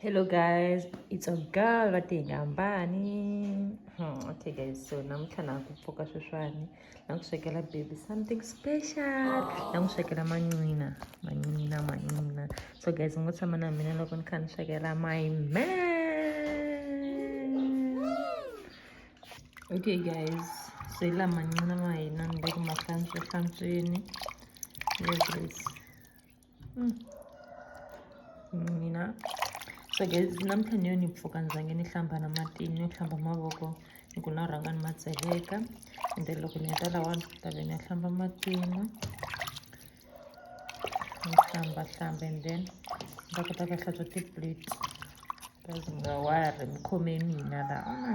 hello guys it's a girl va te hi nga hambani hmm, okay guys so namuntlha na ku pfuka sweswani na ku swekela baby something special na n'wi swekela manqina manqina manqina so guys mi ngo tshama na mina loko ni kha ni swekela my man okay guys so hi laha manqina ma hina ni le ku ma hlantswa hlantsweni yes mina so guys namuntlha ni yo ni pfuka ni zange ni hlamba na mati ni yo hlamba mavoko ni ku na rhanga ni ma tseleka and then loko ni heta lawa ni ta ve ni ya hlamba matima ni hlamba hlamba and then ni ta kota ku hlantswa tiplate kazi nga wari mi khome mina laha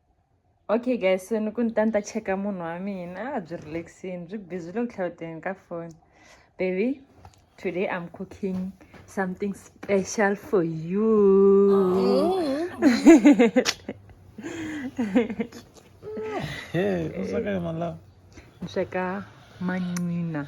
okay guys so ni ku ni ta ni ta cheka munhu wa mina a byi relaxini byi busy loko tlhawuteni ka foni baby today i'm cooking something special for you hey, what's up, my love? Check out Manina.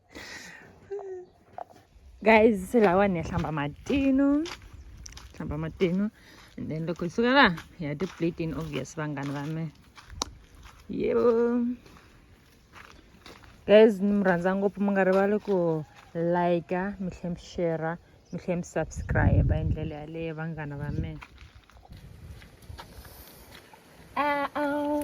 guys se lawa ni ya hlamba matino hlamba matino and then loko hi suka laha hi ya ti-plating obvious vanghana va me yebo guys ni mi rhandza ngopfu mi nga rivali ku like mi tlhe mi share mi tlhe mi subscribe hi ndlela yaleyo vanghana va me Uh-oh.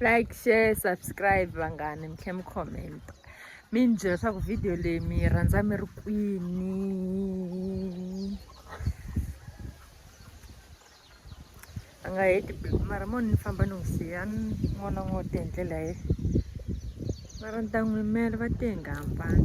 like share subscribe vanghani mi tlhe mi comment mi ni byela leswaku video leyi mi yi rhandza mi ri kwini a nga heti biku mara mo ni famba ni n'wi siya ni n'wana n'wo te hi ndlela ye mara ni ta n'wi yimela va te hi nga hambani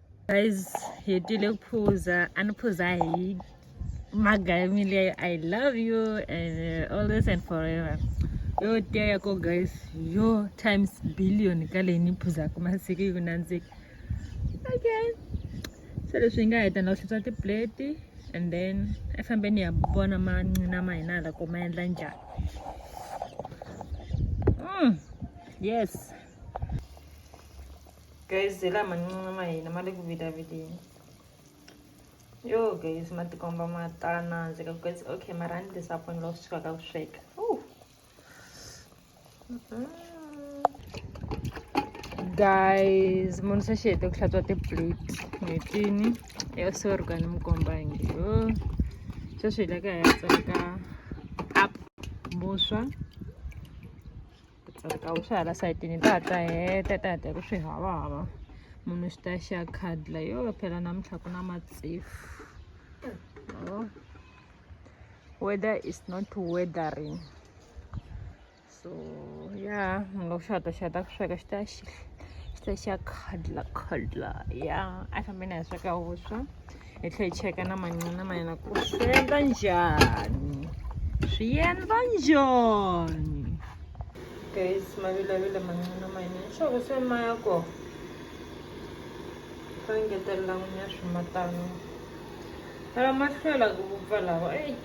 guys hetile ku phuza a ni phuza hi maga ya mi leyo i love you and uh, always and forever yo tiya ya ko guys yo times billion ka leyi ni phuzaka masiku yi ku nandzika okay se leswi yi nga heta na ku hlutswa tipleti and then a fambeni ya vona mancina ma hina hala ko ma endla njhani mm. yes guys la mancinci ma hina ma le ku vilavileni yo guys ma tikomba ma ta nandzika guys okay ma rhandi lesaponi loko swi sukaka ku sweka guys munhu se xi hete ku hlantswa tiplate n'hwetini ya sorry ka ni mi komba hi nge yo sweswi hi le ka hi ya tsaka up vuswa ku tsarika wu swi hala sayitini ta ta heta ta heta ku swi hava hava munhu xi ta xi ya khadla yo phela namuntlha ku na matsefu weather is not weathering so ya mi nga ku xi hata xi hata ku sweka xi ta xi xi ta xi ya khadla khadla ya a fambeni a hi sweka vuswa hi tlhela hi cheka na manqina ma yena ku swi endla njhani swi endla njhani guys ma vilavile manqina ma yena leswaku se ma ya ko va engetelela n'wini ya swimatano lava ma hlwela ku vupfa lawa eyi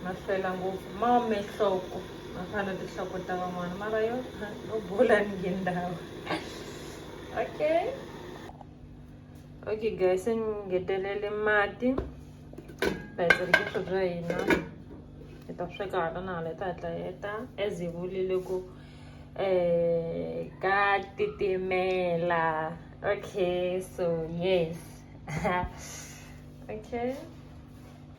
ma hlwela ngopfu ma ome nhloko ma fana tinhloko ta van'wana mara yo no bula ni ngendhawa okay okay guys se ni ngetelele mati bayizirikisho bya hina hi ta sweka hala na hala yi ta hatla heta as hi vulile ku um ka titimela okay so yes okay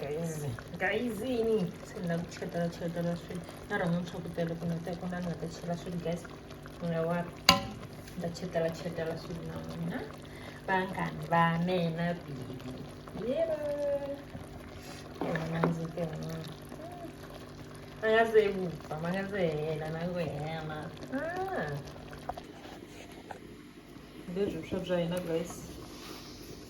guys guys yini se ni lava ku cheletela cheletela swilo na rhanga ni swakutela ku nata ku na ni nga ta chela swilo guys ni nga wa ni ta cheletela cheletela swilo na n'wina vanghani va mina bibi yero nanzi ke n'wana ma nga se vupfa ma nga se hela na ku hela leswi swa bya hina guys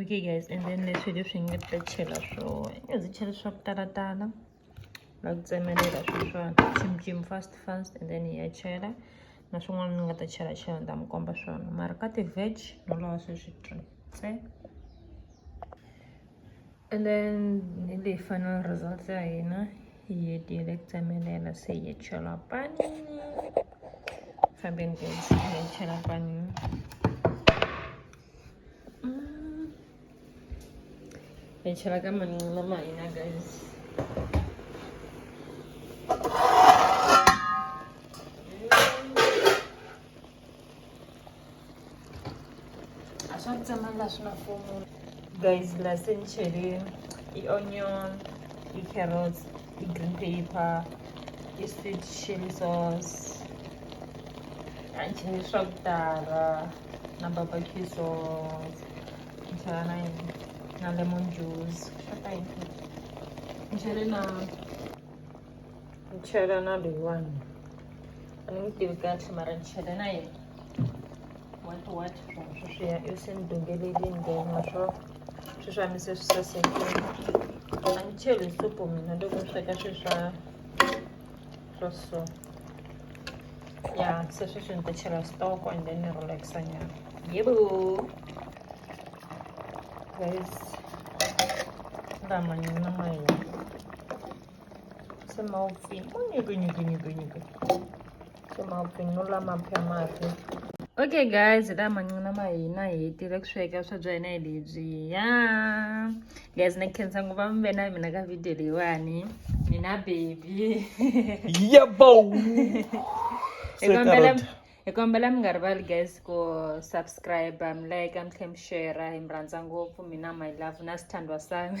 okay guys and then leswi leswi nga ta chela swona i nga zi chela swa ku talatala va ku tsemelela sweswiwani tsimtsim fast fast and then hi ya chela na swin'wana ni nga ta chela chela ni ta mi komba swona mara ka ti-veg no lava sweswi ntsena and then hi leyi final results ya hina hi hetile ku tsemelela se hi chela panini fambeni guys hi chela panini mm. hi chela ka manqina ma hina guys a swa ku tsemanga swi na fomu guys la se ni chele i-onion i-carrots i-green paper i-sweet chili sauce a ni chele swa ku tala na barbecue sauce ni chela na yini na lemon juice swa ta yini ni chele na ni chela na leyiwani a ni ngi tivi kahle mara ni chela na yena what what from sweswiya i se ni dongelelini then maswo swi swa mi se swi sasekile a ni cheli hi supu mina loko ni sweka swi swa swa so ya se sweswi ni ta chela stoko and then ni relaxa nyana yebo guys lama nyana ma hina Você mal vem. Você mal vem. Não lá, mal pé, mal okay guys la mancina ma hina hi tile ku sweka swa byena hi lebyiya guys ni khensa nguva mi ve na mina ka video leyiwani mina baby yebo hi kombela mi nga rivali guys ku subscribe mi like mi tlhe mi share hi mi rhandza ngopfu mina my love na swithandwa sami